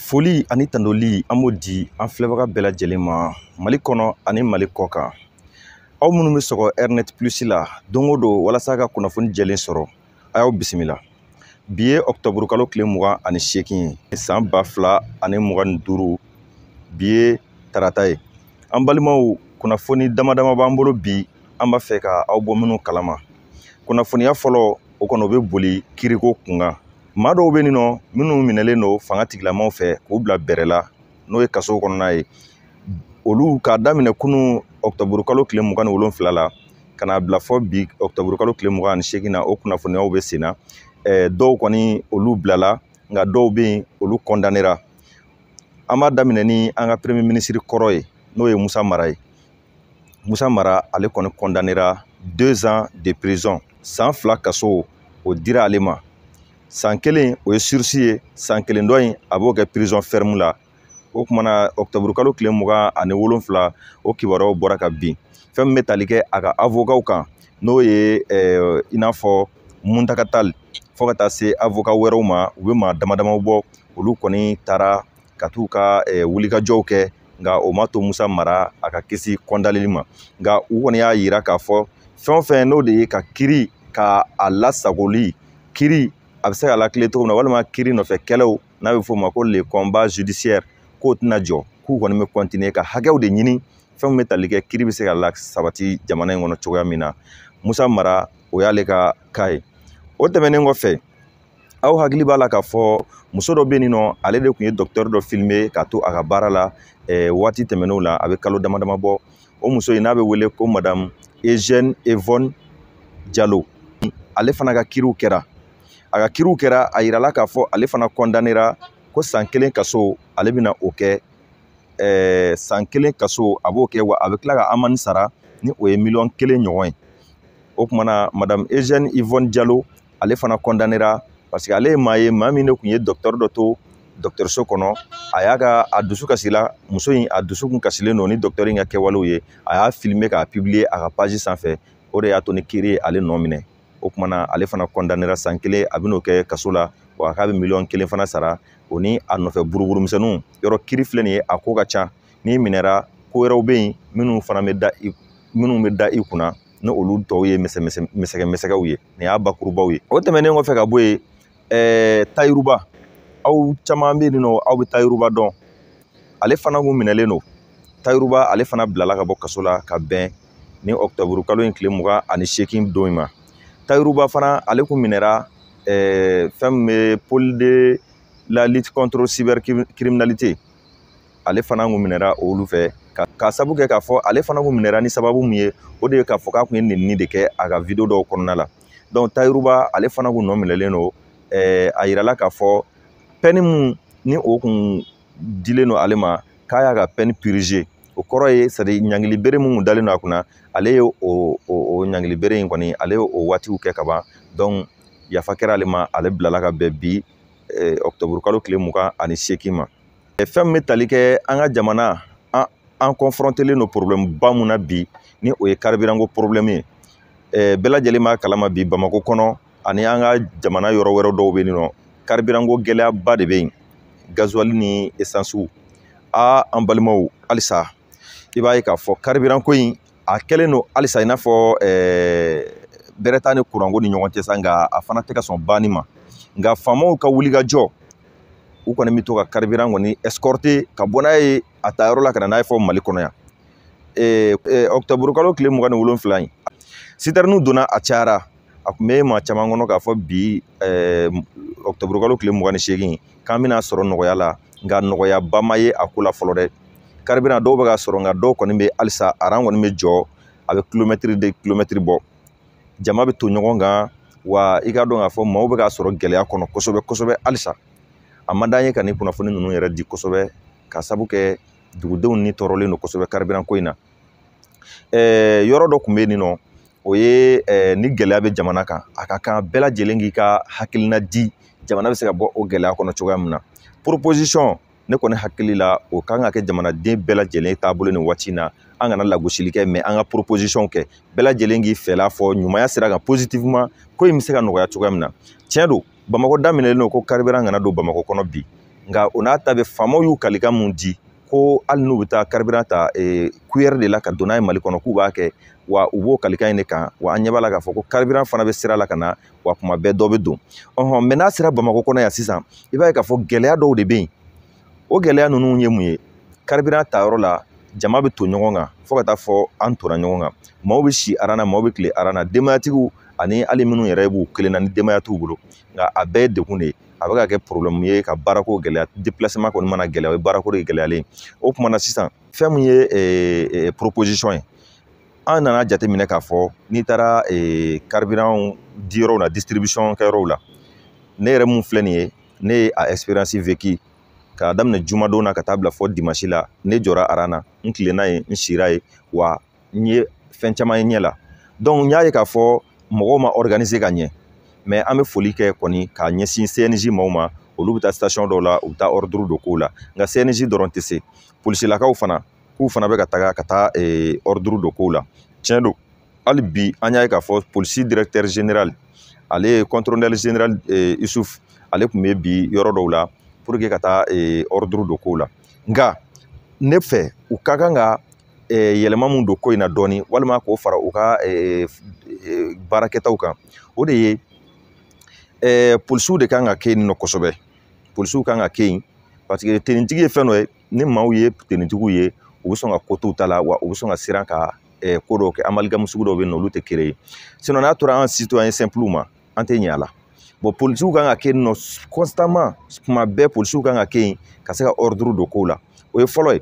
foli ani tandoli an b'o di an filɛbaga bɛɛ lajɛlen ma mali kɔnɔ ani mali kɔ kan aw minnu bɛ sɔgɔ rnet plus la don o don walasa ka kunnafoni jɛlen sɔrɔ a y'aw bisimila bi ye ɔkutɔburukalo tile mugan ani seegin ye san ba fila ani mugan ni duuru bi ye tarata ye an balimaw kunnafoni dama dama b'an bolo bi an b'a fɛ ka aw bɔ minnu kalama kunnafoniya fɔlɔ o kɔnɔ o bɛ boli kiriko kunkan maa dɔw bɛ nin nɔ minnu minɛlen don fanga tigilamaaw fɛ k'u bila bɛrɛ la n'o ye kaso kɔnɔna ye olu k'a daminɛ kunun ɔkutɔburukalo tile mugan ni wolonfila la ka n'a bila fɔ bi ɔkutɔburukalo tile mugan ani seegin na o kunnafoniyaw bɛ sen na dɔw kɔni olu bilala nka dɔw bɛ yen olu kɔndanera an b'a daminɛ ni an ka premier minisiri kɔrɔ ye n'o ye musa mara ye musa mara ale kɔni kɔndanera deux ans de prison san fila kaso o dira ale ma san kelen o ye surisi ye san kelen dɔ in a b'o kɛ prison ferme la o kumana ɔktɔburu kalo tile mugan ani wolonfila o kibaruyaw bɔra ka bin fɛn min bɛ tali kɛ a ka avokaw kan n'o ye eh, i n'a fɔ muntaga tali fo ka taa se avoka wɛrɛw ma u bɛ maa dama damaw bɔ olu kɔni taara ka t'u ka eh, wulikajɔw kɛ nka o ma to musa mara a ka kisi kɔndaneli ma nka u kɔni y'a yira k'a fɔ fɛn o fɛn n'o de ye ka kiri ka a lasagoli kiri a bɛ se ka latilen cogo min na walima kiri nɔfɛ kɛlɛw n'a bɛ f'o ma ko le combat judiciaire k'o tɛna jɔ k'u kɔni bɛ kɔntiniye ka hakɛw de ɲini fɛn min bɛ tali kɛ kiri bɛ se ka lasabati jamana in kɔnɔ cogoya min na musa mara o y'ale ka cas ye o tɛmɛnen kɔfɛ aw hakili b'a la k'a fɔ muso dɔ bɛ yen nɔ ale de tun ye dɔkitɛri dɔ filime k'a to a ka baara la eh, waati tɛmɛnenw la a bɛ kalo dama dama bɔ o muso in n'a bɛ wele ko madamu eugène yvonne jalo ale fana ka kiriw kɛra a ka kiriw kɛra a yirala k'a fɔ ale fana kɔndanera ko san kelen kaso ale bɛna o kɛ eh, san kelen kaso a b'o kɛ wa a bɛ tila ka amani sara ni o ye miliyɔn kelen ɲɔgɔn ye o kumana madamu eugène yvonne jalo ale fana kɔndanera paseke ale ye maa ye maa min de tun ye dɔkitɛri dɔ to dɔkitɛriso kɔnɔ a y'a ka a dusukasi la muso in a dusukun kasilen don ni dɔkitɛri in ka kɛwalew ye a y'a filime k'a pibliye a ka pazi sanfɛ o de y'a to ni kiri ye ale nɔ minɛ o kumana ale fana kɔndanera san kelen a bɛn'o kɛ kaso la wa k'a bɛ miliyɔn kelen fana sara o ni a nɔfɛ buruburumisɛnninw yɔrɔ kiri filɛ nin ye a ko ka ca n'i minɛra ko wɛrɛw bɛ yen minnu fana bɛ da i minnu bɛ da i kunna ni olu tɔw ye misɛgɛ misɛgɛw ye nin y'a bakurubaw ye o tɛmɛnen kɔfɛ ka bɔ yen ɛɛ tayiruba aw caman bɛ yen nɔ aw bɛ tayiruba dɔn ale fana kun minɛlen don tayiruba ale fana bilala ka bɔ kaso la ka bɛn ni ɔkutɔburu kalo in tile mugan ani seegin don in ma tayiruba fana ale kun minɛra ɛɛ fɛn min bɛ pôle de la lutte contre cybercriminalité ale fana kun minɛra olu fɛ ka ka sabu kɛ k'a fɔ ale fana kun minɛra ni sababu min ye o de ye k'a fɔ k'a kun ye nenini de kɛ a ka video dɔw kɔnɔna la donc tayiruba ale fana kun nɔ minɛlen don ɛɛ a yirala k'a fɔ pɛni mun ni o kun dilen don ale ma k'a y'a ka pɛni pirize o kɔrɔ ye sadi ɲangili bere mun kun dalen don a kunna ale ye o o o ɲangili bere in kɔni ale ye o waatiw kɛ ka ban donc yafa kɛra ale ma ale bilala ka bɛn bi ɔkutɔburukalo tile mugan ani seegin ma fɛn min bɛ tali kɛ an ka jamana an an kɔnfɔrɔntelen don porobilɛmu ba mun na bi ni o ye karibiranko porobilɛmu ye ɛɛ bɛɛ lajɛlen b'a kalama bi bamakɔ kɔnɔ ani an ka jamana yɔrɔ wɛrɛ dɔw bɛ yen nɔ karibiranko gɛlɛyaba de bɛ yen gazuwali ni esansiw aa an balimaw halisa i b'a ye k'a fɔ karibiranko in a kɛlen don halisa i n'a fɔ bɛrɛ t'a ni kuranko ni ɲɔgɔn cɛ sa nka a fana tɛ ka sɔn banni ma nka faamaw ka wulikajɔ u kɔni bɛ to ka karibiran kɔni ɛsikɔrite ka bɔ n'a ye a ta yɔrɔ la ka na n'a ye fɔ mali kɔnɔ yan ɔkutɔburukalo tile mugan ni wolonwula in sitɛriniw donna a cayara a tun bɛ maa caman kɔnɔ k'a fɔ bi ɔkutɔburukalo tile mugan ni seegin k'an bɛna sɔrɔ nɔgɔya la nka nɔgɔyaba ma ye a ko la fɔlɔ dɛ karibiran dɔw bɛ ka sɔrɔ nka dɔw kɔni bɛ halisa aran kɔni bɛ jɔ a bɛ kilomɛtiri de kilomɛtiri bɔ jama bɛ to ɲɔgɔn kan wa i k'a dɔn k'a fɔ maaw bɛ ka sɔrɔ gɛlɛya kɔnɔ kosɛbɛ kosɛbɛ halisa a man d'an ye ka nin kunnafoni ninnu yɛrɛ di kosɛbɛ ka sabu kɛ dugudenw ni tɔɔrɔlen don kosɛbɛ karibiran ko in na ɛɛ yɔrɔ dɔ tun bɛ yen nin nɔ o ye ɛɛ ni gɛlɛya bɛ jamana kan a ka kan bɛɛ lajɛlen k'i ka hakilina di jamana bɛ se ka bɔ o gɛlɛya kɔnɔ cogoya min na proposition ne kɔni hakili la o kan ka kɛ jamanaden bɛɛ lajɛlen taabolo nin waati in na an kana lagosili kɛ mɛ an ka proposition kɛ bɛɛ lajɛlen k'i fɛla fɔ ɲumanya sira kan positivement ko in bɛ se ka nɔgɔya cogoya min na tiɲɛ don bamakɔ da minɛlen don ko karibiran kana don bamakɔ kɔnɔ bi nka o n'a ta bɛɛ faamaw y'u kalikan mun di ko hali n'u bɛ taa karibiran ta kuyɛri de la ka don n'a ye mali kɔnɔ k'u b'a kɛ wa u b'o kalikan in de kan wa an ɲɛ b'a la k'a fɔ ko karibiran fana bɛ sira la ka na wa kuma bɛɛ dɔ bɛ don ɔhɔn mɛ n'a sera bamakɔ kɔnɔ yan sisan i b'a ye k'a fɔ gɛlɛya dɔw de bɛ yen o gɛlɛya ninnu ye mun ye karibiran ta yɔrɔ la jama bɛ to ɲɔgɔn kan fo ka taa fɔ an tora ɲɔgɔn kan maaw bɛ si aran na maaw bɛ tile aran na denbayatigiw ani hali minnu yɛrɛ b'u kelen na ni denbaya t'u bolo nka a bɛɛ ye degun de ye a bɛ ka kɛ porobilɛmu ye ka baarako gɛlɛya depilaseman kɔni mana gɛlɛya o ye baarako de gɛlɛyalen ye o tuma na sisan fɛn min ye ee, ee, poroposisɔn ye an nana jateminɛ k'a fɔ n'i taara ee, karibiran diyɔrɔw la disitiribisɔn kɛyɔrɔw la ne yɛrɛ mun filɛ nin ye ne ye a ɛsiperansi veki k'a daminɛ jumadon na ka taa bila fo dimasi la ne jɔra aran na n tilenna yen n sira yen wa n ye fɛn caman ye ɲɛ la donc n y'a ye k'a fɔ mɔgɔw ma organiser ka ɲɛ mais an bɛ foli kɛ kɔni k'a ɲɛsin cnj maaw ma olu bɛ taa station dɔw la u bɛ taa ɔriduru don kow la nka cnj dɔrɔn tɛ se polisilakaw fana k'u fana bɛ ka taga ka taa ɔriduru eh, don kow la tiɲɛ don hali bi an y'a ye k'a fɔ polisi directeur général ale ye contrôleur général eh, isuf ale tun bɛ bi yɔrɔ dɔw la pour que ka taa ɔriduru eh, don kow la nka ne fɛ u ka kan ka yɛlɛma mun don ko in na dɔɔnin walima k'o fara u ka baarakɛtaw kan o de ye polisiw de kan ka kɛ yen nɔ kosɛbɛ polisiw kan ka kɛ yen paseke tenitigi ye fɛn dɔ ye ni maaw ye tenitigiw ye u bɛ sɔn ka ko t'u ta la wa u bɛ sɔn ka siran ka ko dɔw kɛ amaligamu sugu dɔw bɛ yen nɔ olu tɛ kere ye sinɔn n'a tora an situwayɛn sɛnpiliw ma an tɛ ɲɛ a la bɔn polisiw kan ka kɛ yen nɔ kɔnsitaman tuma bɛɛ polisiw kan ka kɛ yen ka se ka ɔriduru don kow la o ye fɔlɔ ye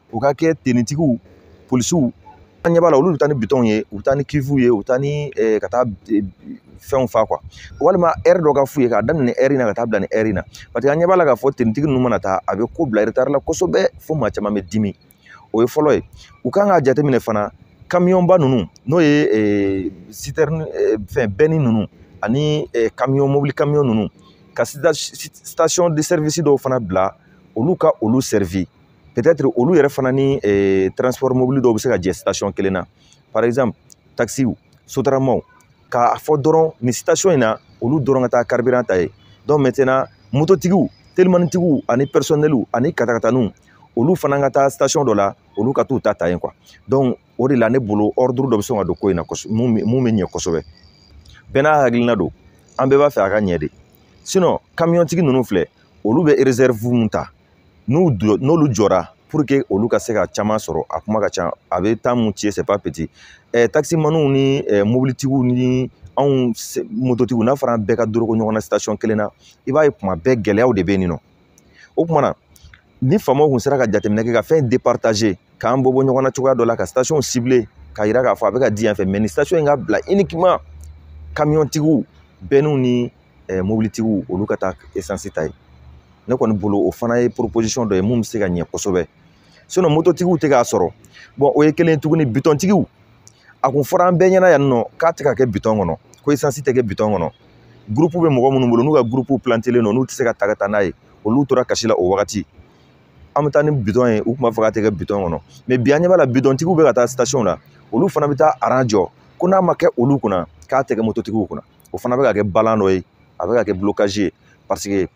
u ka kɛ tenitigiw polisiw an ɲɛ b'a la olu bɛ taa ni bidɔnw ye u bɛ taa ni kifuw ye u bɛ taa ni ka taa fɛnw fa kuwa walima ɛri dɔ ka f'u ye k'a daminɛ ɛri in na ka taa bila nin ɛri in na paseke an ɲɛ b'a la k'a fɔ tenitigi ninnu mana taa a bɛ ko bila retard la kosɛbɛ fo maa caman bɛ dimi o ye fɔlɔ ye u kan k'a jateminɛ fana kamiyɔnba ninnu n'o ye sitɛrini fɛn bɛnni ninnu ani kamiyɔn mobili kamiyɔn ninnu ka station de service dɔw fana bila olu ka olu peut-être olu yɛrɛ fana ni eh, transport mobili dɔw bɛ se ka jɛ station kelen na par exemple taxiw sotaramaw k'a fɔ dɔrɔn nin station in na olu dɔrɔn ka taa carburant ta ye donc maintenant mototigiw telimanitigiw ani personneliw ani katakataniw olu fana ka taa station dɔ la olu ka t'u ta ta yen quoi donc o de la ne bolo ordre dɔ bɛ sɔn ka don ko in na kosɛbɛ mun bɛ mun bɛ ɲɛ kosɛbɛ bɛɛ n'a hakilina don an bɛɛ b'a fɛ a ka ɲɛ de sinon kamiyɔntigi ninnu filɛ olu bɛ reserve mun ta n'u jɔ n'olu jɔra pour que olu ka se ka caman sɔrɔ a kuma ka ca a bɛ temps mun ci c'est pas petit ɛɛ takisimaniw ni ɛɛ mobilitigiw ni anw mototigiw n'a fɔra an bɛɛ ka doroko ɲɔgɔn na station kelen na i b'a ye kuma bɛɛ gɛlɛyaw de bɛ yen nɔ o tuma na ni faamaw tun sera ka jateminɛ kɛ ka fɛn départager k'an bɔ bɔ ɲɔgɔn na cogoya dɔ la ka station cibler k'a jira k'a fɔ a bɛ ka di yan fɛ mais nin station in ka bila uniquement kamiyɔntigiw bɛnniw ni eh, mobilitigiw olu ka taa esansi ta ye ne kɔni bolo o fana ye proposition dɔ ye mun bɛ se ka ɲɛ kosɛbɛ sinɔn mototigiw tɛ k'a sɔrɔ bɔn o ye kelen ye tuguni bitɔntigiw a tun fɔra an bɛɛ ɲɛna yan nɔ k'a tɛ ka kɛ bitɔn kɔnɔ ko esansi tɛ kɛ bitɔn kɔnɔ gurupu bɛ mɔgɔ minnu bolo n'u ka gurupu pilantelen don n'u tɛ se k'a ta ka taa n'a ye olu tora kasi la o wagati an bɛ taa ni bitɔn ye u tun b'a fɔ k'a tɛ kɛ bitɔn kɔnɔ mɛ bi an ɲɛ b'a la bitɔntigiw bɛ ka taa sitasiɔn la olu fana bɛ taa aran jɔ ko n'a ma kɛ olu kunna k'a tɛ kɛ mototigiw kunna o fana bɛ ka kɛ balan dɔ ye a bɛ ka kɛ blocage ye paseke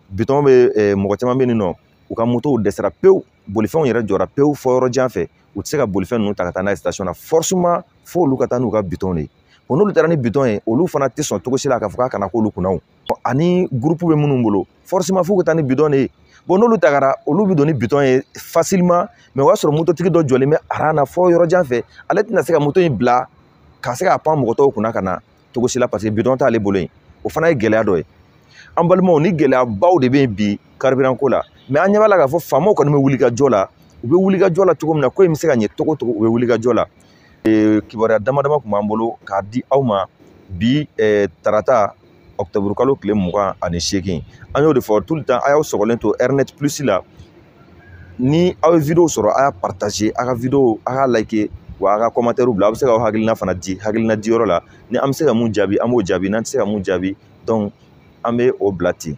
bitɔn bɛ eh, mɔgɔ caman bɛ yen nɔ u ka motow dɛsɛra pewu bolifɛnw yɛrɛ jɔra pewu fɔ yɔrɔ jan fɛ u tɛ se ka bolifɛn ninnu ta ka taa n'a ye station na forcément fo olu ka taa n'u ka bitɔn de ye bon n'olu taara ni bitɔn ye olu fana tɛ sɔn cogo si la k'a fɔ k'a kana k'olu kunna o ani groupe bɛ minnu bolo forcément fo ka taa ni bitɔn de ye bon n'olu tagara olu bɛ don ni bitɔn ye facilement mais o y'a sɔrɔ mototigi dɔ jɔlen bɛ aran na fɔ yɔrɔ jan fɛ ale tɛna se ka moto in bila ka se ka pan mɔgɔ tɔw kunna ka na cogo si la paseke bidɔn t'ale bolo yen o fana ye gɛlɛya dɔ ye an balimaw nin gɛlɛyabaw de bɛ yen bi karibiran ko la mɛ an ɲɛ b'a la k'a fɔ faamaw kɔni bɛ wulikajɔ la u bɛ wulikajɔ la cogo min na ko in bɛ se ka ɲɛ cogo o cogo u bɛ wulikajɔ la kibaruya dama dama tun b'an bolo k'a di aw ma bi tarata ɔkutɔburukalo tile mugan ani seegin an y'o de fɔ tout le temps a y'aw sɔgɔlen to ɛrɛnɛti pilisi la ni aw ye video sɔrɔ a y'a partager a ka video a k'a like wa a ka kɔmantɛri bila a bɛ se ka hakilina fana di hakilina diyɔrɔ la ni an bɛ se ka mun jaabi an b'o jaabi n'an tɛ se ka mun jaabi donc an bɛ o bila ten